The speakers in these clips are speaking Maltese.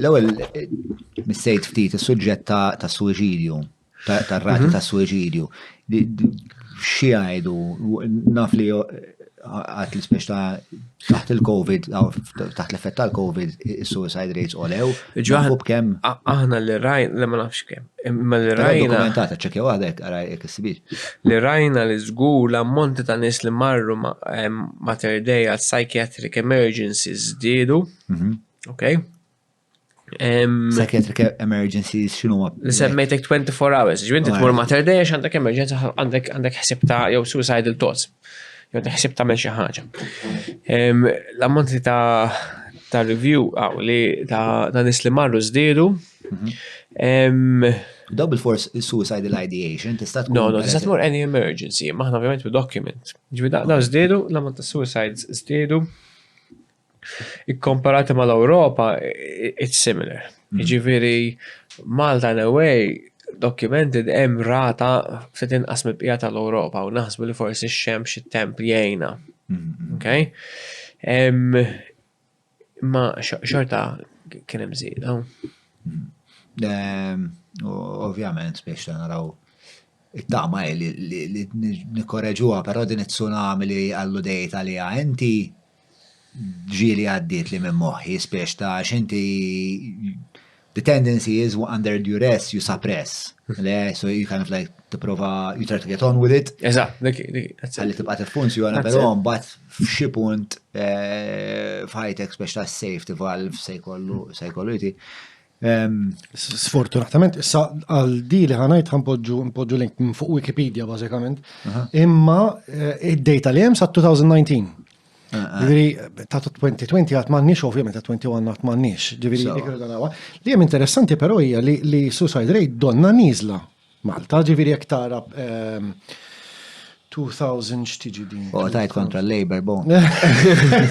L-ewwel missejt ftit is-suġġett ta' suwiċidju, tar-rati mhm. ta' suwiċidju. Xi għajdu, naf li għat li speċta taħt il-Covid, taħt l-effett tal-Covid, il-suicide rates olew. Ġuħu b'kem? Aħna li rajn, li ma nafx kem. Ma li rajna. Dokumentata ċekja għadek, għara jek s-sibir. Li rajna li zgu l-ammonti ta' nis li marru Mater Dei għal psychiatric emergencies zdidu. Mhm. Ok. Um, Psychiatric e- emergencies xinu ma? Li semmejtek 24 hours, ġvinti tmur ma terdex għandek emerġenza għandek għandek ħsib ta' jew suicidal thoughts. Jew għandek ħsib ta' xi ħaġa. Um, L-ammont li ta' ta' review għaw li ta' ta' nis li marru żdiedu. Um, Double force suicidal ideation, tista' tkun. No, no, tista' tmur any emergency, maħna ovvjament bi document. Ġvi da' żdiedu, l-ammont ta' suicides żdiedu. Ikkomparati mal-Ewropa, it's similar. Mm. Jiġifieri Malta in a way documented hemm rata se tinqas mill-bqija tal-Ewropa u naħsbu li forsi x-xemx it-temp jgħinha. Mm-hmm. Okay? Ma xorta kien hemm żieda. Mm-hmm. Ovvjament biex naraw it-tama li nikkoreġuha, però din it-tsunami li għallu dejta li inti ġieli għaddietli minn moħħi spiex ta' għax inti the tendency is under duress you suppress. Le, so you kind of like tipprova you try to get on with it. Eżatt, dik Għalli tibqa' tiffunzjona, però mbagħad f'xi punt eh, f'ħajtek spiex ta' safety valve se jkollu se jkollu jti. Sfortunatament, issa għal di li ħanajt ħanpoġġu npoġġu link minn fuq Wikipedia bażikament, imma eh, id-data li hemm sa 2019. Eh, eh. Ġifieri ta' 2020 għat m'għandniex ovvjament ta' 21 għat m'għandniex. Ġifieri dik Li hemm interessanti però hija li suicide rate donna niżla Malta, ġifieri jekk tara 2000 x'tiġi din. U tajt kontra l-Labor bon.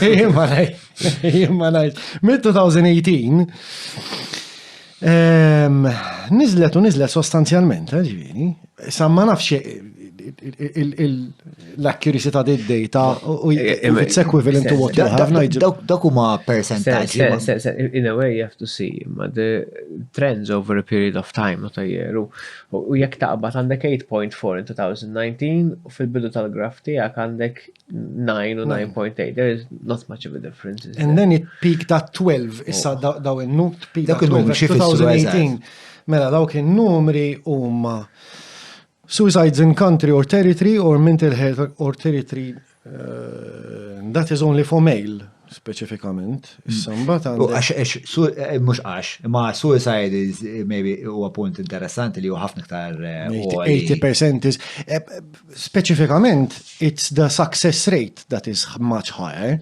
Imma ngħid, imma ngħid. Mid-2018 niżlet u niżlet sostanzjalment, ġifieri, sa ma nafx l-accuracy ta' did data u it's equivalent to what you have Nigel. Dak huma percentage. In a way you have to see ma the trends over a period of time ta' jeru. U jekk taqbad għandek 8.4 in 2019 u fil-bidu tal-graf tiegħek għandek 9 u 9.8. There is not much of a difference. And then it peaked at 12 issa oh. daw in-nut peaked at 12 2018. Mela dawk in-numri huma Suicides in country or territory or mental health or territory uh, that is only for male specifikament. Samba ta' għax eh, mhux għax, ma suicide is eh, maybe huwa punt interessanti li huwa ħafna iktar 80% eh, is specifikament it's the success rate that is much higher.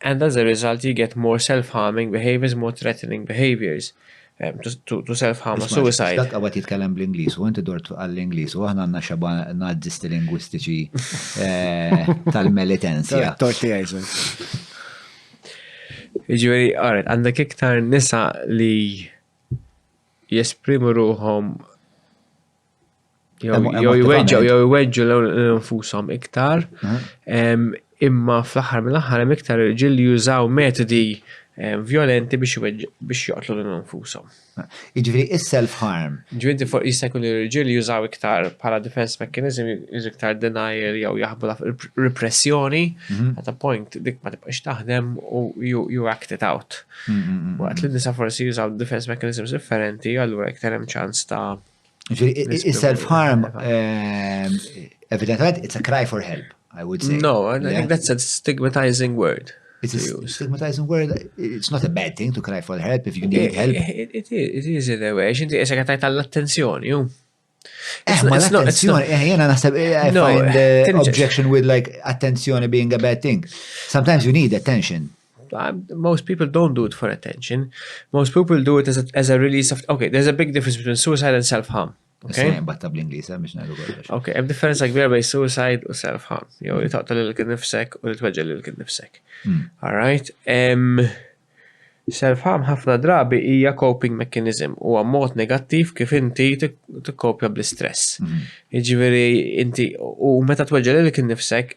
and as a result you get more self-harming behaviours, more threatening behaviours to, to self-harm or suicide. Dak għawet jitkellem bl-Inglis u inti dort għall-Inglis u għahna għanna xaba nazzisti lingwistiċi eh, tal-militenzja. Torti għajżu. Iġveri, għaret, għandek iktar nisa li jesprimu ruħom Jew jweġġu jew jweġġu l-infushom iktar. Imma fl-aħħar mill-aħħar hemm iktar irġiel li jużaw metodi vjolenti biex joqtlu lil infushom. Jiġifieri is-self harm. Ġifieri fuq jista' jkun irġiel li jużaw iktar bħala defense mechanism jużu iktar denial jew jaħbu repressjoni at a point dik ma tibqax taħdem u you act it out. Waqt li nisa forsi jużaw defense mechanisms differenti allura iktar hemm ċans ta' Self-harm, ehm, evidentament, it's a cry for help, I would say. No, I think that's a stigmatizing word. It's a stigmatizing word. It's not a bad thing to cry for help if you need help. It is, it is in a way. Xinti jesa għatajt għall-attenzjoni, ju. Eh, ma l-attenzjoni, eh, jena naħseb, eh, I find eh, objection with like attenzjoni being a bad thing. Sometimes you need attention. Most people don't do it for attention. Most people do it as a, as a release of... Okay, there's a big difference between suicide and self-harm. Okay. Batta bl-Inglis, eh, biex najdu kollox. Okay, hemm differenza kbira bej suicide u self-harm. Jew li taqta lil kien nifsek u li tweġġel lil kien nifsek. Hmm. All right. Self-harm ħafna drabi hija coping mechanism u mod negattiv kif inti tikkopja bl-istress. Hmm. Jiġifieri inti u meta tweġġel lil kien nifsek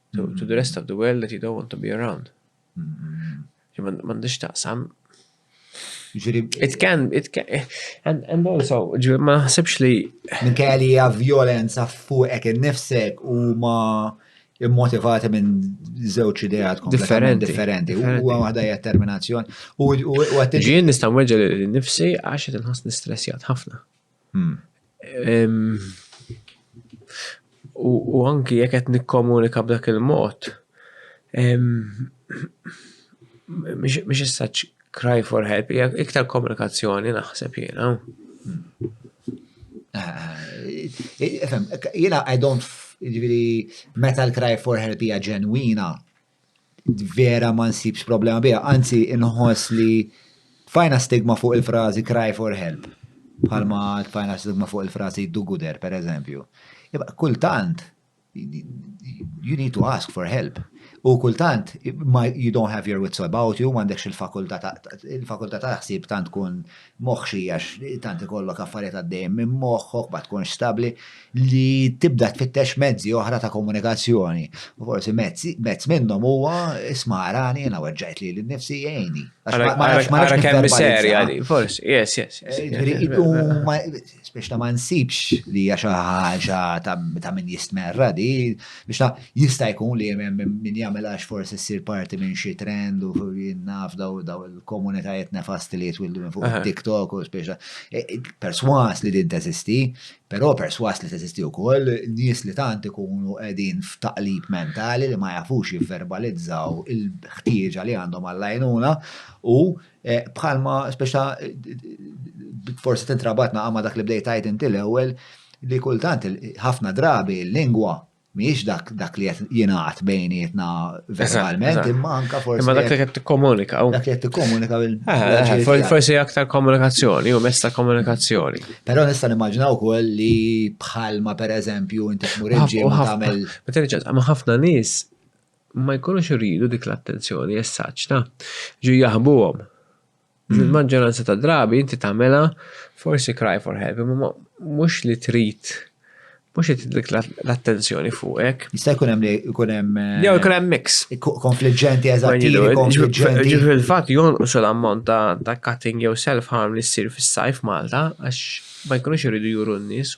to, to the rest of the world that you don't want to be around. Mandiġ taqsam. It can, it can, and, and also, ġiri, ma ħsibx li. Minn kajja li hija violenza fuqek innifsek u ma immotivati minn żewġ ideat differenti. differenti. U għada hija terminazzjoni. Ġien nista' nweġġa li nifsi għax qed inħoss nistressjat ħafna. U anki jekk qed nikkomunika b'dak il-mod, mhix as-such cry for help, hija iktar komunikazzjoni naħseb jiena. Jiena I don't, jiġifieri meta l-cry for help hija ġenwina, vera ma nsibx problema biha, anzi inħoss li tfajna stigma fuq il-frażi cry for help, bħalma tfajna stigma fuq il-frażi do gooder, per eżempju. Kultant, you need to ask for help. U kultant, you don't have your wits about you, m'għandekx il-fakulta ta' il-fakulta ta' ħsieb tant tkun moħħxi għax tant ikollok affarijiet għaddejjin minn moħħok, ma tkunx stabbli, li tibda tfittex mezzi oħra ta' komunikazzjoni. U forsi mezz minnhom huwa isma' arani jiena weġġajt lili nnifsi jgħinni. Ara kemm serja li, forsi, yes, yes. biex ta' ma nsibx li hija xi ħaġa ta' min jistmerra di, biex ta' jista' jkun li hemm min jagħmel għax forsi ssir parti minn xi trend u jinnaf daw daw il-komunitajiet nefasti li jitwildu minn fuq TikTok u biex ta' e, e, perswas li din teżisti, però perswas li teżisti wkoll nies li tant ikunu qegħdin f'taqlib mentali li ma jafux jivverbalizzaw il-ħtieġa li għandhom għall-għajnuna u Eh, bħalma, speċa, forse tintrabatna għama dak li bdejt għajt inti l-ewel, li kultant ħafna drabi l-lingwa miex dak dak li qed jingħad bejnietna verbalment imma anka forsi. Imma dak li qed tikkomunika. Dak li qed tikkomunika bil ah, ah, ah, Forsi aktar komunikazzjoni u mesta komunikazzjoni. Però nista' nimmaġinaw ukoll li bħalma pereżempju inti tmur il-ġimgħa tagħmel. Ma ħafna nies ma jkunux iridu dik l-attenzjoni essaċta, ġu jaħbuhom. Fil-maġġoranza ta' drabi inti tagħmela forsi cry for help, imma mhux li trid mhux li dik l-attenzjoni fuqek. Jista' jkun hemm li jkun hemm. Eh, Jew jkun hemm mix. Konfliġġenti eżatti, konfliġġenti. Ġifieri fil-fatt jonqos l-ammont ta' cutting jew self-harm li ssir fis-sajf Malta għax ma jkunux iridu juru n-nies.